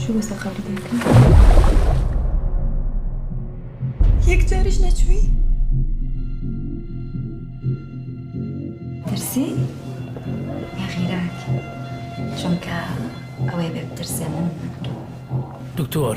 چووە سەر قەبری دایکم یەک جاریش نەچووی ترسی یا غیرات چونکە ئەوەی بێ بترسێ من دکتۆر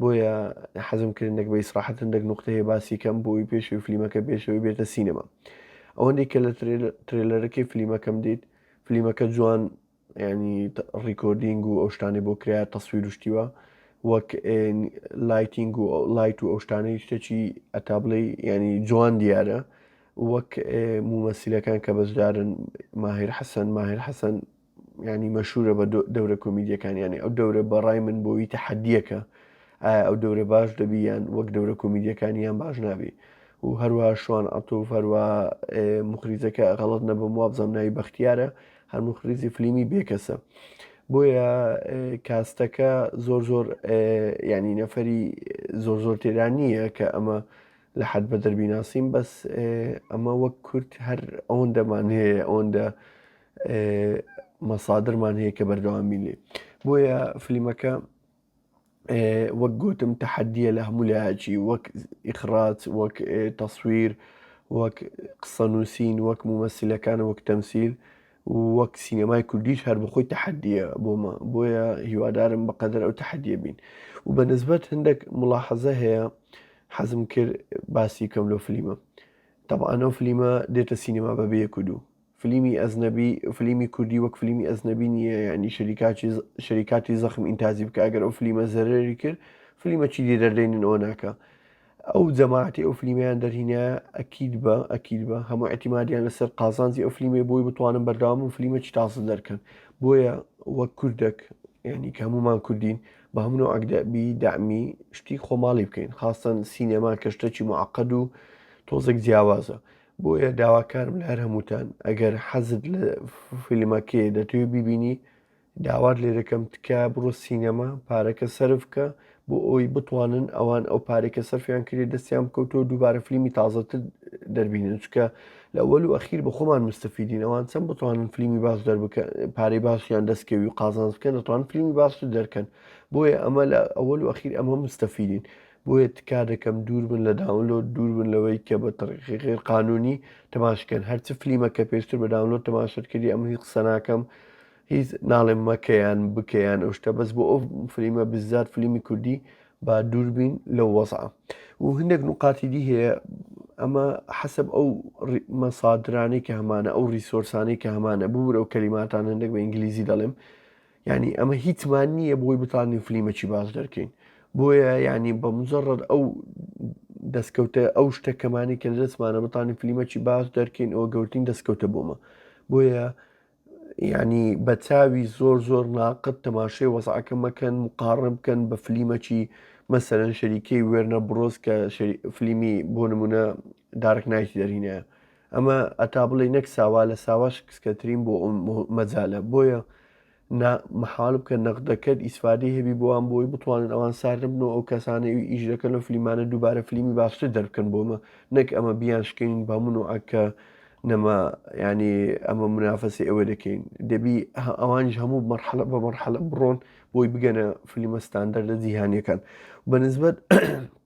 بۆیە حەزم کرد نەک بە ئیسراحەت هەندێک نوقتە هەیە باسی کەم بۆی پێشەوەی فلیمەکە پێشەوەی بێتە سینەما ئەوەندەی کە لە ترێلەرەکەی فلیمەکەم دیت فلیمەکە جوان ینی ڕیکۆردینگ و ئەو شتانی بۆ کرایە تەسویر و شتیوە وەک لایتینگ و لایت و ئەو شتانەی شتێکی ئەتابلەی ینی جوان دیارە وەک مومەسیلەکان کە بەشدارن ماهر حەسەن ماهر حەسەن یانی مەشورە بە دەورە کۆمیدیەکان یانی ئەو دەورە بە ڕای من بۆی تەحەدیەکە ئایا ئەو دەورە باش دەبی یان وەک دەورە کۆمیدیەکانی یان باش نابی و هەروە شوان ئەتۆف هەروە مخریزەکە غەڵت نەبم وابزانام ناوی بەختیارە هەر مخریزی فلیمی بێکەسە بۆیە کاستەکە زۆر زۆر ینی نەفەری زۆر زۆر تێرا نییە کە ئەمە لە حەد بە دەربیناسیم بەس ئەمە وەک کورت هەر ئەوەندەمان هەیە ئەوەندە مەسادرمان هەیە کە بەردەوام بین لێ بۆیە فلیمەکە وەک گوتم تەحەدیە لە هەموو لایەکی وەک ئیخراج وەک تەسویر وەک قسە نووسین وەک مومەسیلەکان وەک تەمسیل وەک سینەمای کوردیش هەر بخۆی تەحەدیە بۆمە بۆیە هیوادارم بەقەدر ئەو تەحەدیە بین و بە نسبەت هەندێک مڵاحەزە هەیە حەزم کرد باسی کەم لۆ فلیمە تەبانەو فلیمە دێتە سینەما بەبێ کودو فلیمی ئەزنەبی فلیمی کوردی وەک فلیمی ئەزنەبی نییە یعنی شەریکاتی شەریکاتی زەخم ئینتازی بکە ئەگەر ئەو فلیمە زەرری کرد فلیمە چی دی دەردەینن ئەوە ناکە ئەو جەماعتی ئەو فلیمیان دەرهینە ئەکیید بە ئەکیید بە هەموو ئەتیمادیان لەسەر قازانجی ئەو فلیمی بۆی بتوانم بەرداوام و فلیمە چی تازە دەرکەن بۆیە وەک کوردێک ینی کە هەمومان کوردین بە هەمن و ئەگدەبی دامی شتی خۆماڵی بکەین خاستەن سینەما کەشتەکی معقد و تۆزێک جیاوازە بۆیە داواکارم لە هەر هەمووتان ئەگەر حەزت لە فیلمەکەی دەتوێ بیبینی داوات لێ دەکەم تکایە بڕۆ سینەما پارەکە سەرفکە بۆ ئەوی بتوانن ئەوان ئەو پارێکە سەرفیان کرێ دەستیان بکەوتۆ دووبارە فلیمی تازەتر دەربینن چکە لە وەل و ئەخیر بە خۆمان مستەفیدین ئەوان چەند بتوانن فلیمی باش دەربکە پارەی باشیان دەستکەوی و قازانز بکەن دەتوان فلیمی باش دەرکەن بۆیە ئەمە لە ئەوەل و ئەخیر ئەمە مستەفیدین بۆیە تکا دەکەم دووربن لە داونلۆد دووربن لەوەی کە بە تەڕیقی غێر قانونی تەماشکەن هەرچ فلیمە کە پێشتر بە داونلۆد تەماشت کردی ئەم هیچ قسە ناکەم هیچ ناڵێم مەکەیان بکەیان ئەو شتە بەس بۆ ئەو فلیمە بزات فلیمی کوردی با دووربین لەو وەزع و هەندێک نقاتی دی هەیە ئەمە حەسب ئەو مەسادرانی کە هەمانە ئەو ریسۆرسانی کە هەمانە ببوور ئەو کەلیماتان هەندێک بە ئینگلیزی دەڵێم یانی ئەمە هیچمان نییە بۆی بتانین فلیمەکی باش دەرکەین بۆیە ینی بە مجرڕد ئەو دەستکەوتە ئەو شتە کەمانی کە لە دەستمانە بتانی فلیمەکی باش دەرکەین ئەوە گەورتین دەستکەوتە بۆمە بۆیە ینی بە چاوی زۆر زۆر ناقت تەماشای وەزعەکە مەکەن مقاڕن بکەن بە فلیمەکی مەسەرەن شەریکەی وێرنە بڕۆز کە فلیمی بۆ نمونە دارک نایتی دەرینە ئەمە ئەتا بڵێی نەک ساوا لە ساواش کسکەترین بۆ ئەم مەجالە بۆیە نا محال بکە نەقدەکەت ئیسفادی هەبی بۆوان بۆی بتوانن ئەوان ساردبن و ئەو کەسانەی ئیشەکە لە فلیمانە دووبارە فلیمی باشتر دەرکەن بۆمە نەک ئەمە بیان شکین بە من و ئەکە نەما ینی ئەمە منافەسی ئەوە دەکەین دەبی ئەوانش هەموو مەرحەلە بە مەرحەلە بڕۆن بۆی بگەنە فلیمە ستاندەر لە جیهانیەکان بەنسبەت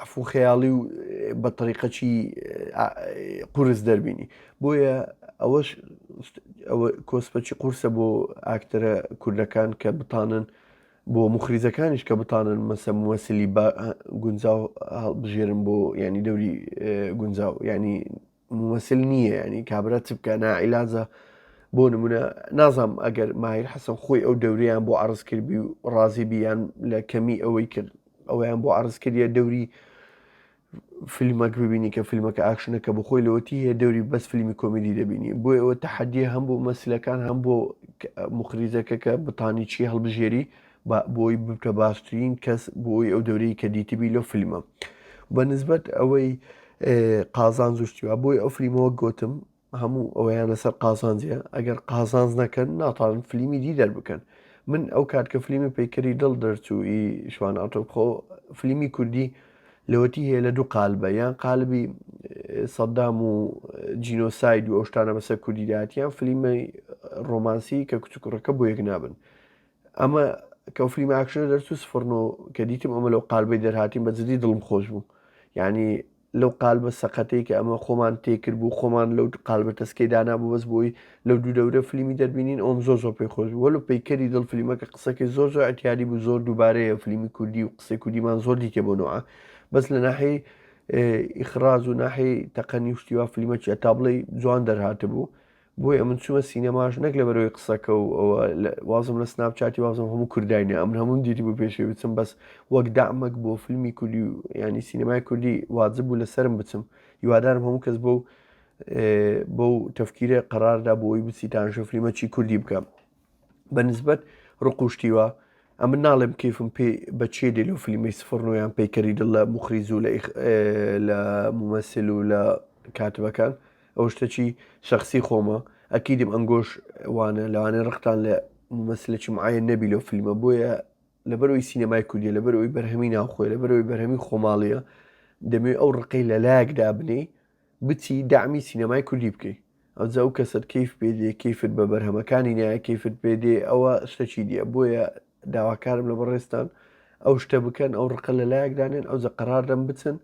عەفو خەیاڵی و بە تەریقەکی قورس دەربینی بۆیە ئەوەش کۆسپەچی قورسە بۆ ئاکتەرە کوردەکان کە بتانن بۆ مخریزەکانیش کە بتانن مەسە موەسلی بە گونجاو بژێرن بۆ ینی دەوری گونجاو ینی مومسل نییە ینی کابرا چ بکە ناعیلاجە بۆ نمونە نازانم ئەگەر ماهیر حەسەن خۆی ئەو دەوریان بۆ عرض کردبی و ڕازی بیان لە کەمی ئەوەی کرد ئەویان بۆ عرض کردە دەوری فیلمەک ببینی کە فیلمەکە ئاکشنەکە بخۆی لەوەتی هەیە دەوری بەس فیلمی کۆمیدی دەبینی بۆ ئەوە تحدیە هەم بۆ مەسلەکان هەم بۆ مخریزەکە کە بتانی چی هەڵبژێری با بۆی ببتە باشترین کەس بۆی ئەو دەورەی کە دیتبی لەو فیلمە بە نسبەت ئەوەی قازان زوشتیوا بۆی ئەو فلیمەوە گوتم هەموو ئەویان لەسەر قازانجیە ئەگەر قازانز نەکەن ناتان فلیمی دی دەربکەن من ئەو کات کە فلیمی پەیکەری دڵ دەرچووی شوان ئاتۆبخۆ فلیمی کوردی لەوەتی هەیە لە دوو قالبە یان قالبی سەددام و جینۆساید و ئەو شتانە بەسەر کوردیداتیان فلیمە ڕۆمانسی کە کچکوڕەکە بۆ یەک نابن ئەمە کەو فلیم ئاکشنە دەرچوو سفڕن و کە دیتم ئەمە لەو قالبەی دەرهاتیم بە جدی دڵم خۆش بوو یعنی لەو قالبە سەقەتەی کە ئەمە خۆمان تێکرد بوو خۆمان لەو قالبە تەسکەی دانا بوو بەس بۆی لەو دوو دەورە فلیمی دەربینین ئەوم زۆر زۆر پێی خۆش بوو لە پیکەری دڵ فلیمەکە قسەکەی زۆر زۆر ئەتیادی بوو زۆر دووبارەیە فلیمی کوردی و قسەی کوردیمان زۆر دیتێ بۆ نوعە بەس لە ناحی ئیخراز و ناحی تەقەنی شتیوا فلیمەکی ئەتابڵی جوان دەرهاتە بوو بۆیە من چومە سینەماش نەک لەبەرەوەی قسەکە و ئەوە وازم لە سناپ چاتی وازم هەموو کورداینە ئەمن هەموم دیری بۆ پێشێ بچم بەس وەک دامەک بۆ فیلمی کوردی و ینی سینەمای کوردی واجب بوو لەسرم بچم هیوادارم هەموو کەس بۆ بەو تەفکیرە قەراردا بۆی بچیتان شەفلیمە چی کوردی بکەم بە نسبەت ڕقوشتیوە ئەمن ناڵێم کیفم پێ بە چێ دێ لەو فلیمی سفرڕنویان پەیکەری دڵ لە مخریز و لە ممەسل و لە کاتبەکان ئەو شتەچی شخصی خۆمە ئەکیدم ئەنگۆش وانە لەوانێ ڕقتان لە ممەسلێکی معە نەبی لەو فلیمە بۆیە لەبەرەوەی سینەمای کوردیە لەبەرەوەی بەرهەمی ناوخۆی لەبەرەوەی بەرهەمی خۆماڵیە دەمێ ئەو ڕقی لە لایەکدا بنی بچی دەعمی سینەمای کوردی بکەی ئەوجا ئەو کەسەت کەیف پێ دێ کەیفت بە بەرهەمەکانی نایە کەیفت پێ دێ ئەوە شتەکی دیە بۆیە داواکارم لە بەڕێستان ئەو شتە بکەن ئەو ڕقە لە لایەکدانێن ئەوجا قەرار دەم بچن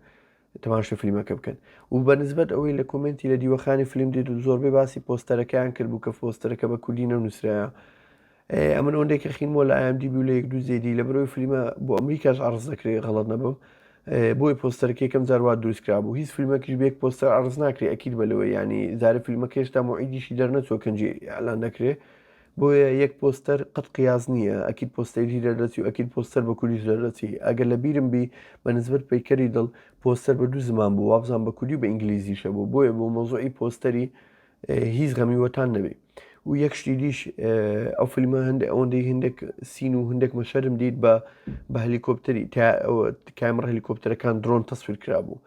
تەماشە فلیمەکە بکەن و بە نسبت ئەوەی لە کۆمنتی لە دیوەخانی فلیم دێت و زۆربەی باسی پۆستەرەکەیان کرد بوو کە پۆستەرەکە بە کوردی نەنووسراە ئەمن ئەوەندەی کە خینمەوە لە IMDB و لە یەک دوو جێدی لە بەرەوەی فلیمە بۆ ئەمریکاش عەڕز دەکرێت غەڵەت نەبم بۆی پۆستەرەکە یەکەم جار وا دروست کرا بوو هیچ فیلمەکیش بە یەک پۆستەر عەڕز ناکرێ ئەکید بە لەوەی ینی جارە فیلمەکە هێشتا موعیدیشی دەرنەچوە کەنجی ئالان دەکرێ بۆیە یەک پۆستەر قەت قیاز نییە ئەکید پۆستەری دەردەچی و ئەکید پۆستەر بە کوریش دەردەچی ئەگەر لە بیرم بی بە نسبت پەیکەری دڵ پۆستەر بە دوو زمان بوو وابزان بە کوردی و بە ئینگلیزیشە بوو بۆیە بۆ مۆزۆی پۆستەری هیچ غەمی وەتان نەبێ و یەک شتی دیش ئەو فیلمە هەندێک ئەوەندەی هەندێک سین و هەندێک مەشەرم دیت بە بە هەلیکۆپتەری کامڕ هەلیکۆپتەرەکان درۆن تەسویر کرا بوو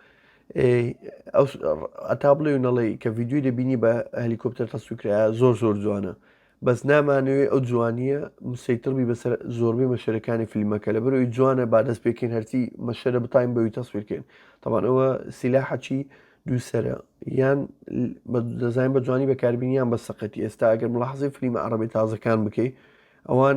ئەتا بڵێ و نەڵێ کە یددیوی دەبینی بە هەلیکۆپتەر تەسوکرا زۆر زۆر جوانە بەس نامانەوێ ئەو جوانیە مسەیتڕ بی بەسەر زۆربەی مەشەرەکانی فیلمەکە لەبەر ئەوی جوانە با دەست پێکەین هەرچی مەشەرە بتاین بەوی تەسویرکەین تەبان ئەوە سیلاحەچی دووسرە یان دەزانین بە جوانی بەکاربینیان بە سەقەتی ئێستا ئەگەر ملاحزی فلیمە عربی تازەکان بکەیت ئەوان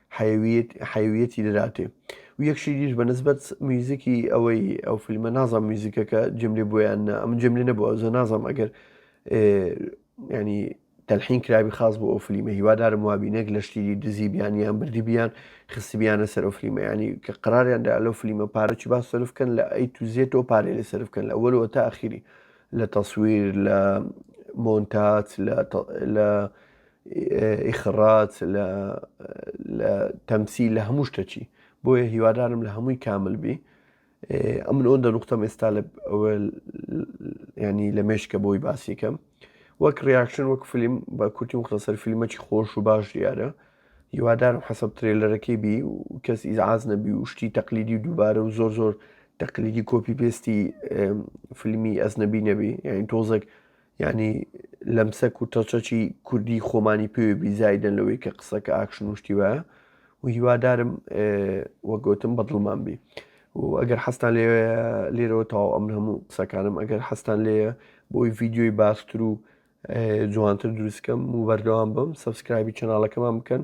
حەیویەتی دەداتێ و یەک شیریش بە نسبەت میوزیکی ئەوەی ئەو فیلمە نازانم میوزیکەکە جێم لێ بۆیان نە ئەم جێم لێ نەبووە زە نازانم ئەگەر ینی تەلحین کرابی خاص بۆ ئەو فلیمە هیوادارم وابینێک لە شتیری دزی بیان یان بردی بیان خستی بیانە سەر ئەو فلیمە ینی کە قراریان دا لەو فلیمە پارەی با سرف بکەن لە ئەی توزیێتەوە پارێ لە سرف بکەن لە وەرەوە تا ئەخیری لە تەسویر لە مۆنتات لە ئیخڕاج لە لە تەمسیل لە هەموو شتەکی بۆیە هیوادارم لە هەمووی کامل بی ئەمن ئەوەندە نوختەم ئێستا لە ینی لە مێشکە بۆی باسیکەم وەک ڕیاکشن وەک فیلم بە کورتی مختصر فیلمەکی خۆش و باش دیارە هیوادارم حەسەب ترێلەرەکەی بی و کەس ئیزعاز نەبی و شتی تەقلیدی و دووبارە و زۆر زۆر تەقلیدی کۆپی پێستی فیلمی ئەس نەبی نەبی یعنی تۆزێک یانی لەمسە کورتەچەچی کوردی خۆمانی پێوێ بیزایدەن لەوەی کە قسەکە ئاکشن و شتی وایە و هیوادارم وەگوتم بەدڵمان بی و ئەگەر حەستان لێ لێرەوە تاو ئەم هەموو قسەکانم ئەگەر حەستان لێ بۆی ڤیددیۆی باستر و جوانتر دروستکەم و بەردەوام بم سبسکرایبی چناڵەکەمان بکەن